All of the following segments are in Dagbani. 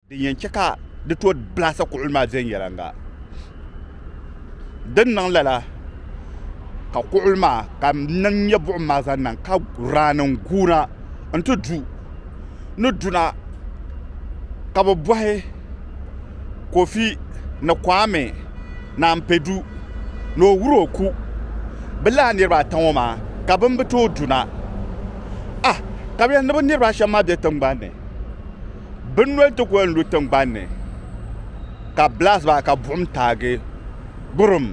Din yɛn chɛ ka di tooi blahisi kuɣili maa viɛnyɛliŋga din niŋ lala ka kuɣili maa ka niŋ nyɛ buɣim maa zaŋ niŋ ka raannim guuna nti du ni duna ka bɛ bɔhi Kofi ni Kwame Naan Pedu ni o wur o ku bɛ lala niriba ata ŋɔ maa ka bɛn bi tooi duna ah ka bɛ yɛn ni bɛ niriba ashɛm maa be tiŋgbani ni. Bin noli ti kuli lu tingbani ni ka blast ba ka buɣim taagi gburum.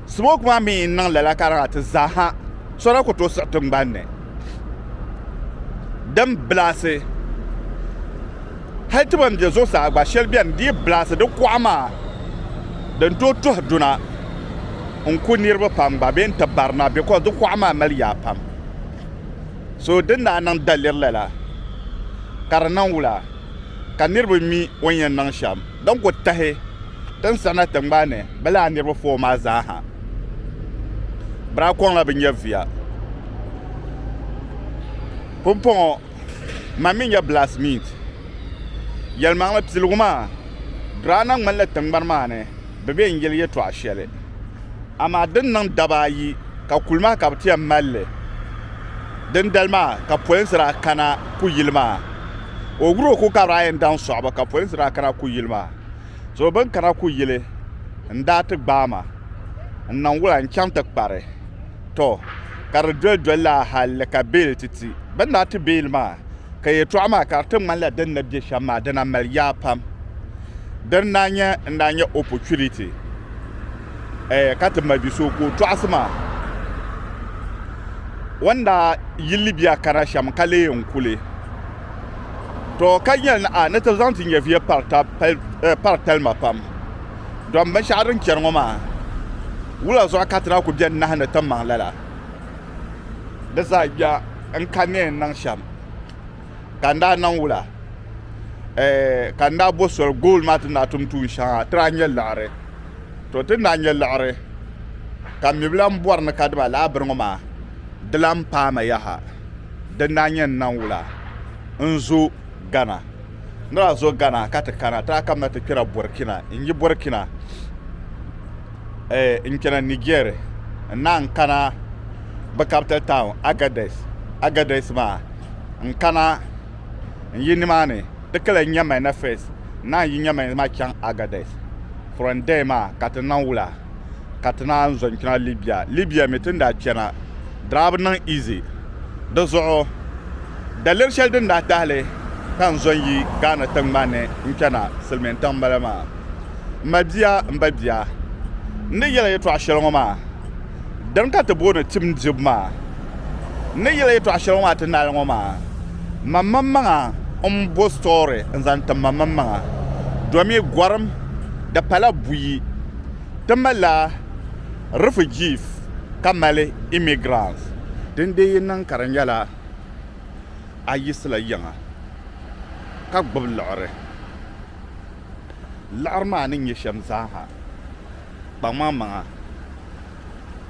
Smoke maa mi n niŋ lala ka di ŋa ti zaaha so daa kuli tooi siɣi tingbani ni din blast hali ti ban be zuɣusaa gba sheli beni dii blast di kuɣa maa din tooi tuhi duna n ku niriba pam gba bee n ti barina because di kuɣa maa mali yaa pam. So din daa niŋ daliri lala ka di niŋ wula ka niriba mi o ni yɛn niŋ shɛm din ku tahi tinsana tiŋgbani ni bɛ laa niriba foo maa zaa ha? Bira kɔŋla bi nyɛ viya. Pumpɔŋɔ man mi nyɛ Blacksmith. Yɛlimaŋli piligu maa, Draana ŋmanila tiŋgbani maa ni. bɛ be n-yeli yɛtɔɣ shɛli, amaa din niŋ daba ayi ka kuli maa ka bɛ ti yɛn mali li. Dindali maa ka polinsi daa kana ku yili maa. O wuro ku ka bɛ daa yɛn daŋ sɔɣibu ka polinsi daa kana ku yili maa. So bɛ ni kana ku yili n-daa ti gbaai ma n-niŋ wula n-chaŋ ti kpari. Tɔ! Ka di doli doli laa hal ka beeli ti ti. Bɛ ni daa ti beeli maa. ka yɛtɔɣa maa ka di ti ŋmanila din ni be shɛm maa dina mali yaa pam. Di ni daa nyɛ n daa nyɛ opportunity eh, ka ti ma bi so ka o tɔɣisi ma. O ni daa yi Libya kana shɛm ka leei n kuli To ka nyɛli ni a ni ti zaŋ ti nyɛviya pari tali ma pam. Dɔm binshɛɣu din chani ŋɔ maa, wula zuɣu ka ti daa ku beni nahi ni timaŋ lala? di zaa gbiɛɣu n ka ni yɛn niŋ shɛm ka n daa niŋ wula ka n daa bo soli gool maa ti ni daa tum tuun shɛŋa ti daa nyɛ liɣiri to ti ni daa nyɛ liɣiri ka mi bi lahi bɔri ni ka dib alahabiri ŋɔ maa di lahi paai ma yaha din daa nyɛ n niŋ wula n zo Ghana. N daa zo Ghana ka ti kana ti daa kamina ti kpɛra Burkina. N yi Burkina, n kpɛna Niger n-naan kana bɛ capital town Agadez. Agadez maa, n kana n yi nimaani dikala Nyamena first n-naan yi Nyamena maa chaŋ Agadez. From there maa ka ti niŋ wula? ka ti naan zo n-kpɛna Libya. Libya mi ti ni daa kpɛna daa bi niŋ easy. Di zuɣu daliri shɛli din daa tahili ka n zo n-yi Ghana tiŋgbani ni n-kpɛna silimiin tiŋ m-bala maa. M ma bia, m ba bia, n ni yɛl a yɛtɔɣ shɛli ŋɔ maa, dini ka ti booni tim dibu maa. N ni yɛl a yɛtɔɣ shɛli ŋɔ maa ti naali ŋɔ maa, man maŋmaŋa m-bo story n-zaŋ tim ma maŋmaŋa domi gɔrim di pala buyi. Ti malila refugees ka mali immigrants. Din dee yi niŋ ka di nyɛla a yiɣisila yiŋa ka gbubi liɣiri, liɣiri maa ni nyɛ shɛm zaaha, kpaŋmaŋmaŋa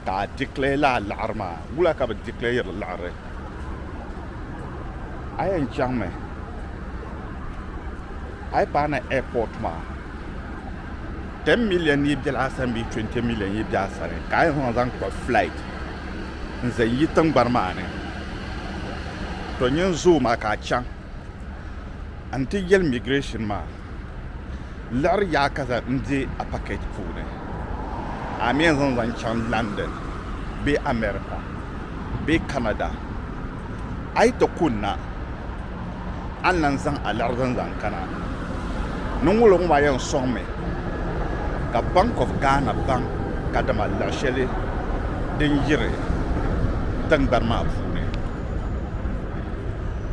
ka a declare lala liɣiri maa. Wula ka bɛ declareiri liɣiri? A yɛn chaŋmi a yi paana airport maa. 10 million yi biɛla asani bee 20 million yi bɛ asani ka a yɛn zaŋ zaŋ kpa flight n zaŋ yi tingbani maa ni to nyin zoo maa ka a chaŋ n ti yɛli migration maa liɣiri yaa ka zaŋ n di a package puuni a mi yɛn zaŋ zaŋ chaŋ London bee America bee Canada a yi ti kunna a ni lan zaŋ a liɣiri zani zaŋ kana. Niŋwulo ŋɔ maa yɛn sɔŋmi ka Bank of Ghana baŋ kadama liɣi shɛli din yiri tiŋgbani maa puuni.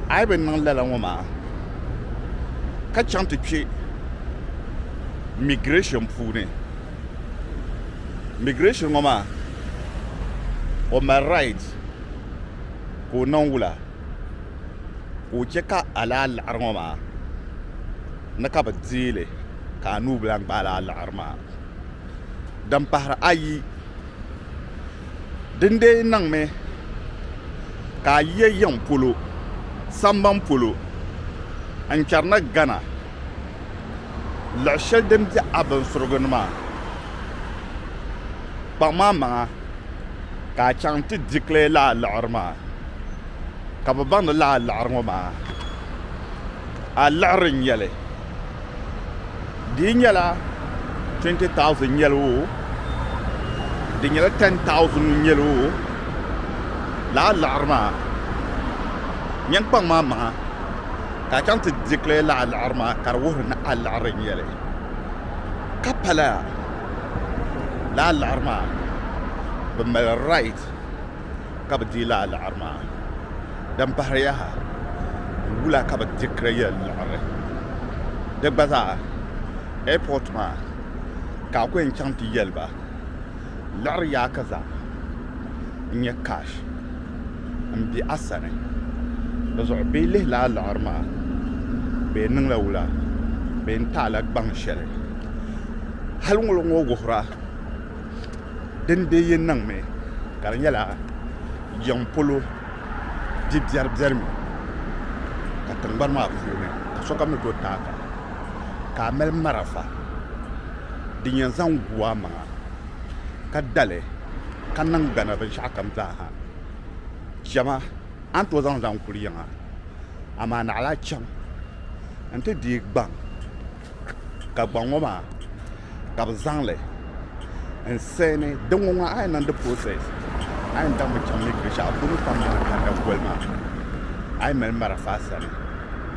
A yi bi niŋ lala ŋɔ maa ka chaŋ ti kpe migration puuni, migration ŋɔ maa o mali right ka o niŋ wula. ka o chɛ ka a lahi liɣiri ŋɔ maa ni ka bi deei li ka a nuu bi lahi gbaai lala liɣiri maa din pahiri ayi din dii niŋmi ka a yiya yiŋ polo sambani polo n-chani ni Ghana. luɣ shɛli din be a binsurigu ni maa, kpaŋm a maŋa ka a chaŋ nti declare lala liɣiri maa ka bɛ baŋdi lala liɣiri ŋɔ maa a liɣiri n-nyɛ li di yi nyɛla 20,000 n-nyɛ li oo di nyɛla 10,000 n-nyɛ li oo lala liɣiri maa nyɛ n kpaŋm a maŋa. ka a chaŋ ti declare la a liɣiri maa ka di wuhiri ni a liɣiri n-nyɛli ka pala la a liɣiri maa bɛ mali right ka bɛ deei la a liɣiri maa din pahiri yaha wula ka bɛ declare liɣiri di gba zaa airport maa ka a ku yɛn chaŋ ti yɛli ba liɣiri yaa ka zaa n nyɛ cash n bɛ a sani di zuɣu bee yi lihila a liɣiri maa bee n niŋla wula bee n taala gbaŋ shɛli hali ŋɔ ŋɔ wuhira din bɛ yi niŋmi ka di nyɛla yiŋ polo bi biɛri biɛri mi ka tingbani maa puuni ka sokam ni tooi taaka ka a mali marafa din yɛn zaŋ gu a maŋa ka dali ka niŋ gana binshɛɣu kam zaaha chɛma a ni tooi zaŋ zaŋ kuli yiŋa amaa naɣila chɛm n ti deei gbaŋ ka gbaŋ ŋɔ maa ka bi zaŋli n seeni din ŋɔ maa a yɛn niŋdi pirosɛs a yɛn daŋmi chɛm ni binshaɣu bini pam maa ka di da koli maa a yi mali marafa sani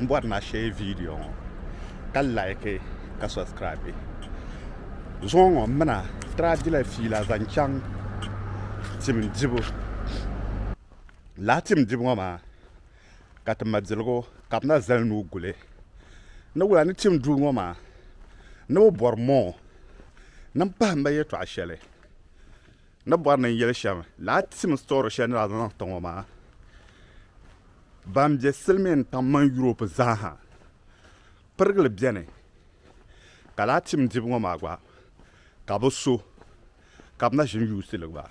n bɔri na share video ŋɔ ka like ka subscribe zuɣu ŋɔ mina tira dila fiila zaŋ chaŋ tim dibu laa tim dibu ŋɔ maa ka ti ma diligu ka bi na zali nuu guli ni wula ni tim duu ŋɔ maa ni bi bɔri moo ni n pahimba yɛtɔɣa shɛli Ni bɔri ni n yɛli shɛm, lala tim story shɛli ni daa zaŋ niŋ tiŋɔ maa, ban be silimiin tiŋ mini Europe zaa ha pirigili beni, ka lala tim dibu ŋɔ maa gba ka bi so ka bi na ʒini yuusi li gba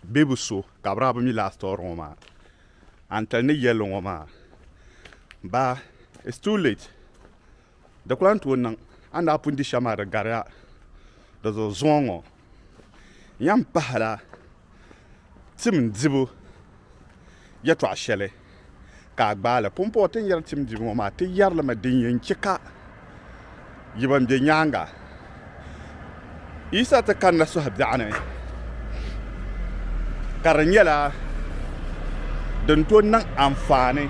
bee bi so ka bi daa bi mi lala story ŋɔ maa, a ni tali ni yɛli ŋɔ maa baa it's too late. Di ku lan tooi niŋ a ni daa pun di shɛm maa di gari a di zuɣu zuŋɔ ŋɔ. Yɛn pahila tim dibu yɛtɔɣ shɛli ka a gbaai li. Pumpɔŋɔ ti ni yɛri tim dibu ŋɔ maa, ti yɛri li mi din yɛn chɛ ka yi ban be nyaaŋa, Yisa ti kanna sɔhi biɛɣu ni ka di nyɛla din to niŋ anfaani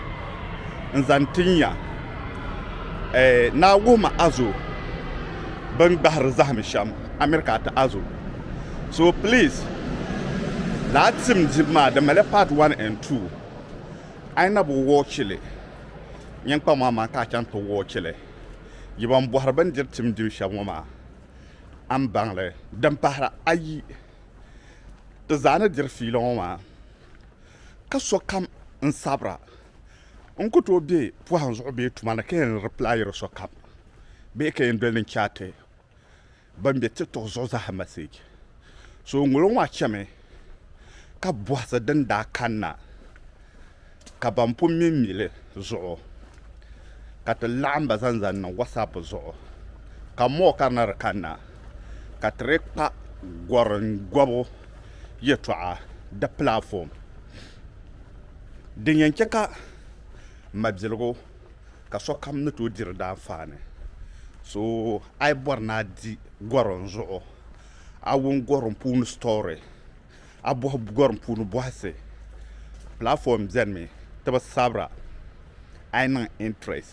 n zaŋ ti nya naawuhima azo bini gbahiri zahim shɛm America ati azo so pilis lala tim dibu maa di mali paati wan en tuu a yi na bi wɔchi li nyin kpaŋ maa maŋa ka a chaŋ ti wɔchi li. Yi ban bɔhiri bɛn diri tim dibu shɛm ŋɔ maa, a ni baŋ li? Din pahira ayi, ti zaa ni diri fiila ŋɔ maa, ka sokam n-sabira, n ku tooi be pɔhim zuɣu bee tuma ni ka yɛn replyiri sokam bee ka yɛn doli ni n-chaati ban be tiktok zuɣu zaa message so ŋolo ŋɔ chemi ka bohasi din daa kanna ka ban pun mi mili zuɣu ka ti laɣim ba zaŋ zaŋ niŋ WhatsApp zuɣu ka mɔɣi ka di na di kanna ka ti dii kpa goringɔbu yɛltɔɣa di platform din yɛn che ka mabiligu ka sokam ni tooi diri di anfaani so a yi bɔri ni a di gɔrim zuɣu a wum gɔrim puuni sitɔri a bɔhi gɔrim puuni bɔhisi pilaatɔm benimi ti bi sabira a yi niŋ intirɛs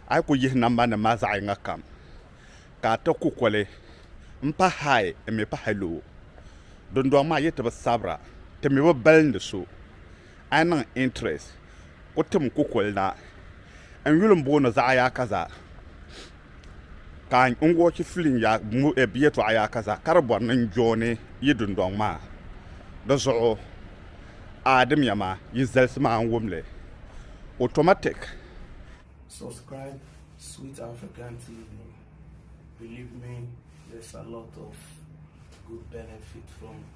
a yi kuli yihi nambanima maa zaɣ yiŋa kam ka a ti kukoli m-pa hayi m-mi pa haloo dundɔŋ maa yi ti bi sabira ti mi bi balindi so A yi niŋ interest ku tim kukuli na n yuli m-booni zaɣ yaa ka za ka n wɔchi film yaa bɛ yɛtɔɣa yaa ka za ka di bɔri ni n jooni yi dundɔŋ maa di zuɣu a dimiya maa yi zalisi ma n wum li automatic. Subscribe Sweet African TV believe me there's a lot of good benefit from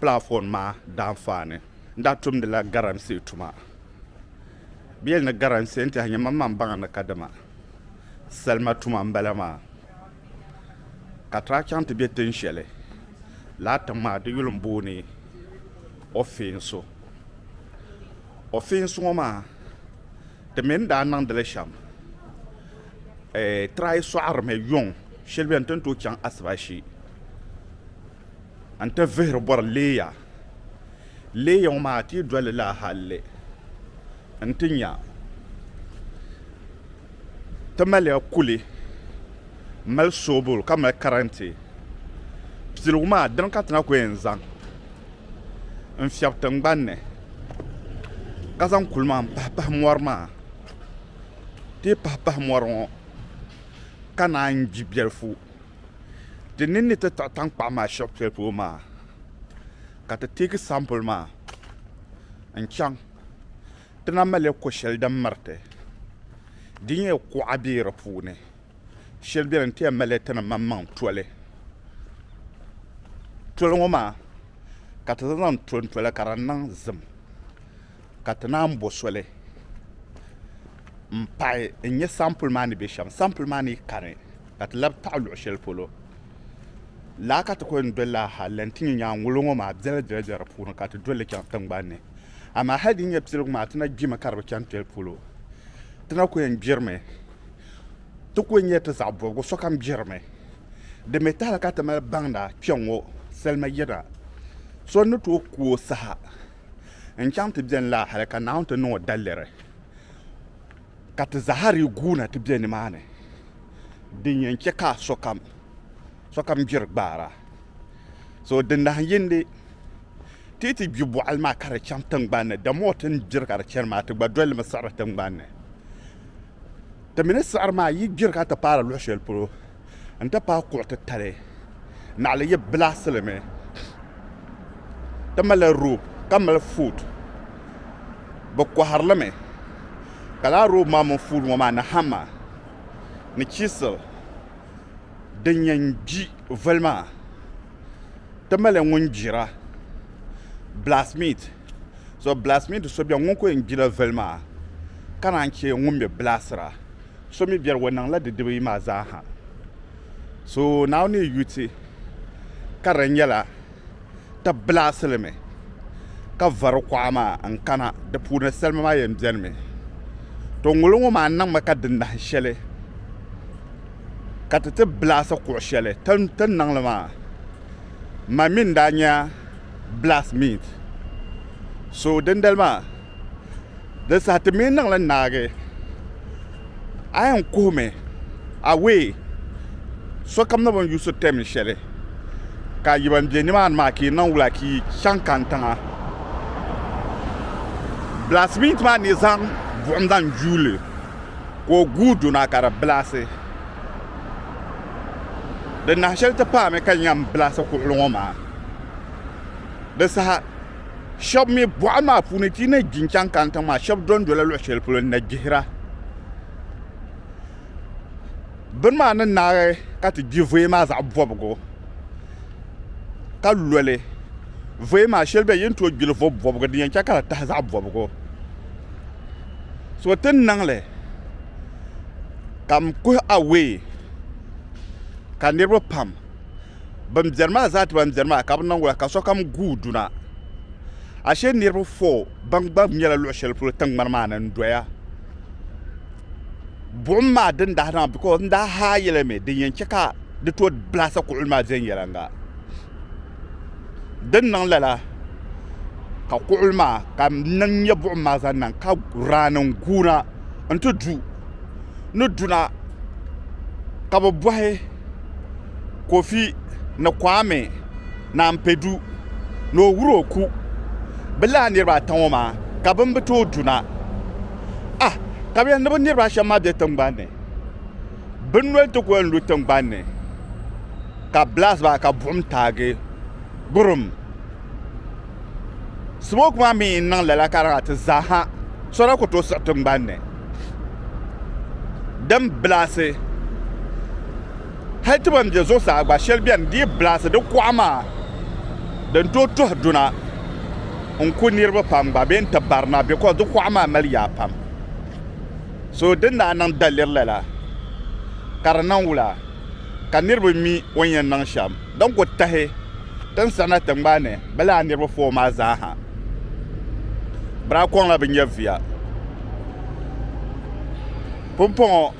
pilaafon maa daanfaa ni n daa tumdila garamsi tuma. Bɛ yɛli ni garamsi n-tɛha nyɛ mam maa m-baŋ ni kadama salima tuma m-bala maa. Ka ti daa chaŋ ti be tin shɛli lala tiŋ maa di yuli m-booni Ofinsu. Ofinsu ŋɔ maa di mi ni daa niŋdi li shɛm ti daa yi sɔɣirimi yuŋ shɛli beni ti ni tooi chaŋ Asibashi. n ti vihiri bɔri Leeya. Leeya ŋɔ maa ti yi doli li a halli n ti nya ti maliya kuli mali soobuli ka mali karantɛ. Piligu maa dini ka ti na ku yɛn zaŋ n fiɛbi tiŋgbani ni ka zaŋ kuli maa m-pahi pahi mɔri maa. Ti yi pahi pahi mɔri ŋɔ ka naan gbi biɛlifu. Di ni ni ti taɣi tankpaɣu maa shɛb shɛli polo maa ka ti teegi sampuli maa n-chaŋ ti na mali li ko shɛli din miriti di nyɛ kuɣa be di puuni shɛli beni n-ti yɛn mali tini maŋmaŋ toli. Toli ŋɔ maa ka ti zaŋ zaŋ tonto li ka di niŋ zim. ka ti naan bo soli m-pahi n-nya sampuli maa ni be shɛm. Sampuli maa ni kani ka ti labi taɣi luɣ shɛli polo. Laa ka ti kul yɛn doli la ha lan ti nya nyaanŋolo ŋɔ maa biɛla biɛla biɛla di puuni ka ti doli li chaŋ tiŋgbani ni. Amaa hal din nyɛ piligu maa ti na gbimi ka di bi chaŋ toli polo. Ti na kul yɛn gbirimi. Ti kul nyɛla ti zaɣ bɔbigu sokam gbirimi. Di mi tahila ka ti mali baŋda kpɛŋŋɔ salima yina so ni tooi ku o saha. n-chaŋ ti beni laa hali ka Naawuni ti niŋ o daliri, ka ti zahiri guuna ti be nimaani, din yɛn chɛ ka sokam sokam gbiri gbaara. So di nahiyindi ti yi ti gbi bɔɣili maa ka di chaŋ tiŋgbani ni, dama o ti ni gbiri ka di chani maa, ti gba dolimi siɣiri tiŋgbani ni. Ti mi ni siɣiri maa, yi gbiri ka ti paari luɣ shɛli polo, n ti pahi kuɣ titali naɣili yi bilaɣisi li mi ti malila roop ka mali fuud bɛ kɔhiri li mi ka lala roop maa mini fuud ŋɔ maa ni hama ni chiisil din yɛn gbi voli maa ti malila ŋun gbira bilaasimiit bilaasimiit so beni ŋun kuli yɛn gbila voli maa ka naan che ŋun mi bilaasira So mi biɛri o niŋla di dibu yi maa zaa ha. So Naawuni yi yuti ka di nyɛla ti bilaɣisi li mi ka vari kuɣa maa n-kana di puuni salima maa yɛn beni mi. To ŋuli ŋɔ maa niŋmi ka di nahi shɛli ka ti ti bilaɣisi kuɣ shɛli ti ni niŋ li maa. Mani mi n-daa nya blast means so dindali maa di saha ti mii niŋli naagi a yɛn kuhimi away sokam ni bi ni yuusi tɛm shɛli ka yi ban bɛ nimaani maa ka yi niŋ wula ka yi chaŋ kani tiŋa blast means maa ni zaŋ buɣum zaŋ gbi li ka o guui duna ka di bilaasi di nahi shɛli ti paami ka n yɛn bilaasi kuɣuli ŋɔ maa Di saha shɛba mi bɔɣili maa puuni ti yi nahi gbi n-chaŋ kani tiŋ maa shɛba do n-dola luɣ'shɛli polo n-na gbihira bini maa ni naai ka ti gbi voya maa zaɣ'bɔbigu ka lo li voya maa shɛli beni yi ni tooi gbi li vo'bɔbigu din yɛn che ka di tahi zaɣ'bɔbigu so ti ni niŋ li ka m kuhi away ka niriba pam Ban biɛri maa zaa ti ban biɛri maa ka bɛ niŋ wula ka sokam guui duna. Ashe niriba foo ban gba nyɛla luɣ shɛli polo tiŋgbani maa ni n-doya. Buɣim maa din daa niŋ because n daa haa yɛli mi din yɛn chɛ ka di tooi blahisi kuɣili maa viɛnyɛliŋga. Din niŋ lala ka kuɣili maa ka n nya buɣim maa zaŋ niŋ ka raani n-guuna nti du. ni duna ka bɛ bɔhi Kofi ni Kwame Nanpedu ni o wur o ku bɛ lala niriba ata ŋɔ maa ka bɛn bi tooi duna. Ah! Ka bɛ yɛli ni bɛ niriba ashɛm maa be tiŋgbani ni, bɛ noli ti ku yɛn lu tiŋgbani ni ka blast baa ka buɣim taagi gburum. smoke maa mi n niŋ lala ka di ati zaaha sɔra ku tooi siɣi tingbani ni din bilaasi hali ti ban bɛ zuɣusaa gba shɛli bɛni di yi bilaasi di kuɣa maa din tooi tuhi duna n ku niriba pam gba bee n ti barina because di kuɣa maa mali yaa pam so din daa niŋ daliri lala ka di niŋ wula ka niriba mi o ni yɛn niŋ shɛm din ku tahi Tinsarina tingbani ni bɛ laa niriba fooi maa zaa ha bira kɔŋla bi nya via. Pumpɔŋɔ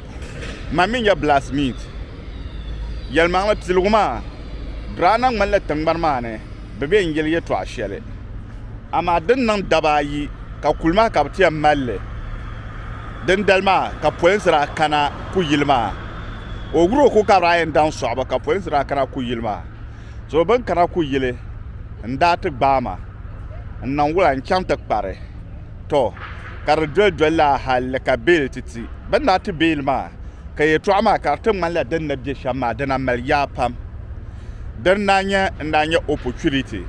man mi nya Blast Meat. Yɛlimaŋli piligu maa bira na ŋmanila tingbani maa ni bɛ be n-yeli yɛtɔɣ shɛli, amaa din niŋ daba ayi ka kuli maa ka bɛ ti yɛn mali li. Dindali maa ka polinsi daa kana kuyili maa. O wuro ku ka bɛ daa yɛn daŋ sɔɣibu ka polinsi daa kana kuyili maa. So bɛ ni kana ku yili n-daa ti gbaai ma n-niŋ wula n-chaŋ ti kpari? Tɔ! Ka di doli doli lala hal ni ka beel ti ti. Bɛ ni daa ti beel maa, ka yɛtɔɣa maa ka di ti ŋmanila din ni be shɛm maa dina mali yaa pam. Di ni daa nyɛ n-daa nya opportunity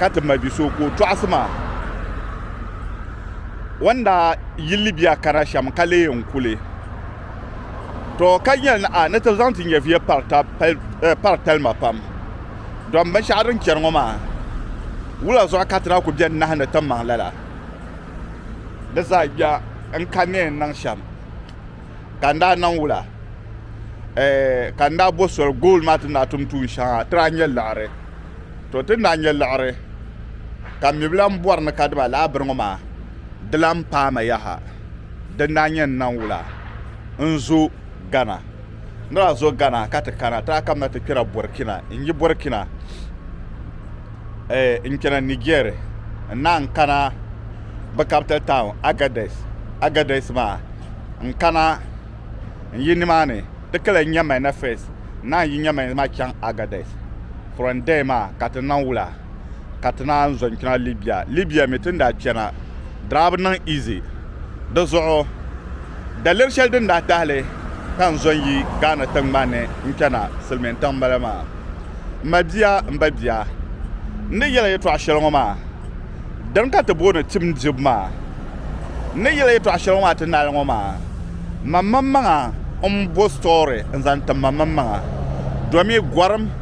ka ti ma bi so ka o tɔɣisi ma. O ni daa yi Libya kana shɛm ka leei n-kuli. to ka yɛli ni a ni ti zaŋ ti nyɛviya pari talima pam dɔm binshɛɣu din chɛri ŋɔ maa wula zuɣu ka ti daa ku bɛni nahi ni ti maŋ lala di zaa gbiɛɣu n-ka ni yɛn niŋ shɛm ka n daa niŋ wula ka n daa bo soli gool maa ti ni daa tum tuun shɛŋa ti daa nyɛ liɣiri to ti ni daa nyɛ liɣiri ka mi bi lan bɔri ni kadibalahabiri ŋɔ maa di lan paai ma yaha din daa nyɛ n naŋ wula n zo Ghana. N daa zo Ghana ka ti kana ti daa kamina ti kpɛra Burkina. N yi Burkina eh, n chana Niger n naan kana bɛ capital town Agadez. Agadez maa n kana n yi nimaani ti kala Nyamena first n naan yi Nyamena maa chaŋ Agadez. From there maa ka ti naŋ wula. ka ti naan zo n-kpɛna Libya. Libya mi ti ni daa kpɛna daa bi niŋ easy. Di zuɣu daliri shɛli din daa tahi li ka n zo n-yi Ghana tiŋgbani ni n-kpɛna silimiin tiŋ m-bala maa. M ma bia, m ba bia, n ni yɛl a yɛtɔɣ shɛli ŋɔ maa, dini ka ti booni tim dibu maa. N ni yɛl a yɛtɔɣ shɛli ŋɔ maa ti naali ŋɔ maa, mam mamaŋa m-bo story n-zaŋ tim mam mamaŋa domi gɔrim.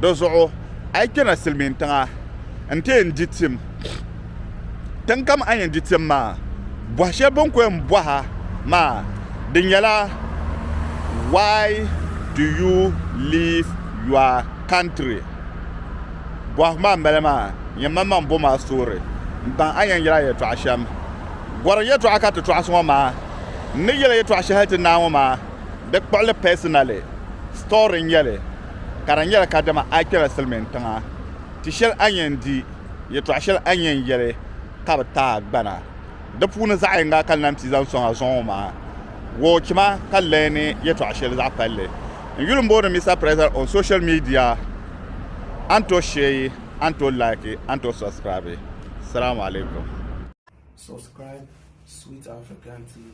Di zuɣu a yi kpɛna silimiin tiŋa nti yɛn di tim. Tiŋ kam a ni yɛn di tim maa, bɔhi shɛli bɛ ni ku yɛn bɔh a maa di nyɛla, Why do you leave your country? Bɔhigu maa m-bala maa, nyɛ maŋmaŋ bom a soori m-baŋ a ni yɛn yɛl a yɛtɔɣ shɛm. Gɔrim yɛtɔɣa ka ti tɔɣisi ŋɔ maa. N ni yɛl a yɛtɔɣ shɛhi ti naai ŋɔ maa, di kpuɣili personally story n-nyɛ li. ka di nyɛla kadama a kpɛla silimiin tiŋa ti shɛli a ni yɛn di, yɛtɔɣ shɛli a ni yɛn yɛli ka bɛ ti a gbana. Di puuni zaɣ yiŋga ka n lan ti zaŋ sɔŋ a zuɣu maa. Woochi ma ka n lahi ni yɛtɔɣ shɛli zaɣ palli. N yuli m-booni Mister President on social media, a ni tooi sheei, a ni tooi laiki, a ni tooi subscribe. Salaamu alaikum. Subscribe Sweet African TV,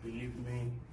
believe me.